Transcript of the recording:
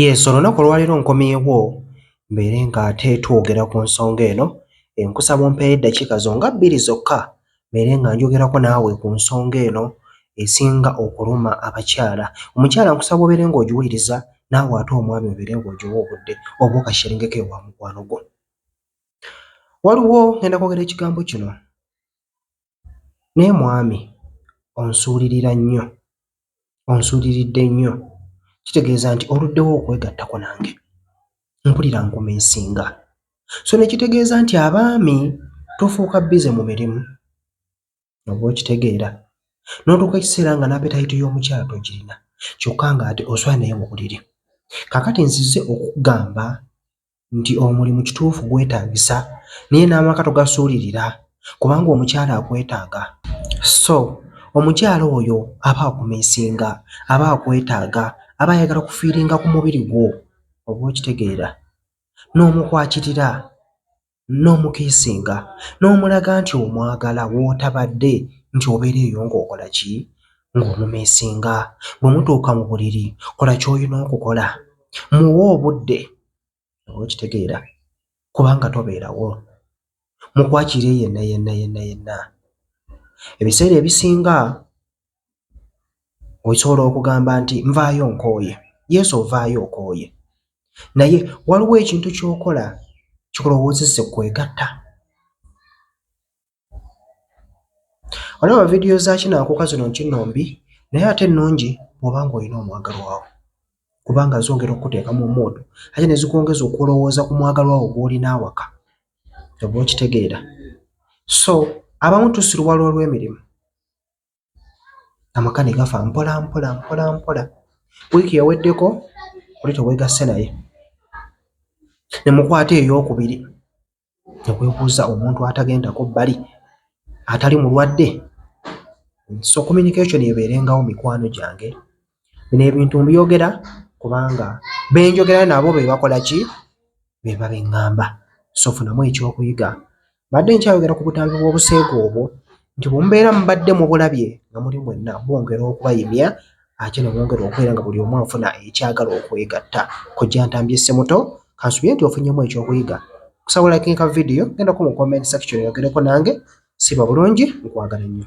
Yes, olunaku olwaleero nkomyewo mbeere nga ate twogera ku nsonga eno. Nkusaba ompeeyo eddakiika zo nga bbiri zokka mbeere nga njogerako naawe ku nsonga eno esinga okuluma abakyala. Omukyala nkusaba obeere ng'ogiwuliriza naawe ate omwami obeere ng'ogiwa obudde oba okasheringeko ewa mukwano gwo. Waliwo ngenda kwogera ekigambo kino. Naye mwami onsuulirira nnyo, onsuuliridde nnyo. Kitegeeza nti oluddewo okwegattako nange? Mpulira nkumiisinga. So ne kitegeeza nti abaami tufuuka bbize mu mirimu, oba okitegeera, n'otuuka ekiseera nga n'apetayiti y'omukyala togirina kyokka ng'ate oswala naye mu buliri. Kaakati nzize okukugamba nti omulimu kituufu gwetaagisa naye n'amaka togasuulirira kubanga omukyala akwetaaga. So omukyala oyo aba akumiisinga, aba akwetaaga, aba ayagala kufiiringa ku mubiri gwo, oba okitegeera, n'omukwakirira, n'omukiisinga, n'omulaga nti omwagala w'otabadde nti obeera eyo ng'okola ki? Ng'omumiisinga. Bwe mutuuka mu buliri kola ky'olina okukola, muwe obudde. okitegeera kubanga tobeerawo mukwakire yenna yenna yenna yenna ebiseera ebisinga osobola okugamba nti nvaayo nkooye yesu ovaayo okooye naye waliwo ekintu kyokola kikulowoozese kwegatta Olaba vidiyo za Kinaakuka zino nti nno mbi naye ate nnungi bw'oba ng'olina omwagalwa wo kubanga zongera okukuteeka mu muudu ate ne zikwongeza okulowooza ku mwagalwa wo gw'olina awaka oba okitegeera so abamu tusiruwala olw'emirimu amaka ne gafa mpola mpola mpola mpola wiiki yaweddeko oli teweegasse naye ne mukwata ey'okubiri newebuuza omuntu atagendako bbali atali mulwadde so communication ebeerengawo mikwano gyange bino ebintu mbyogera kubanga benjogera nabo bebakola ki beba beŋŋamba so funamu ekyokuyiga mbadde nkyayogera ku butambi bw'obuseegu obwo. nti bwe mubeera mubadde mubulabye nga muli mwenna bwongera okubayimya ate ne bwongera okubeera nga buli omu afuna ekyagala okwegatta kojja ntambye ssemuto kansubire nti ofunyemu ekyokuyiga kusaba like nka vidiyo gendako mu comment section yogereko nange siba bulungi nkwagala nnyo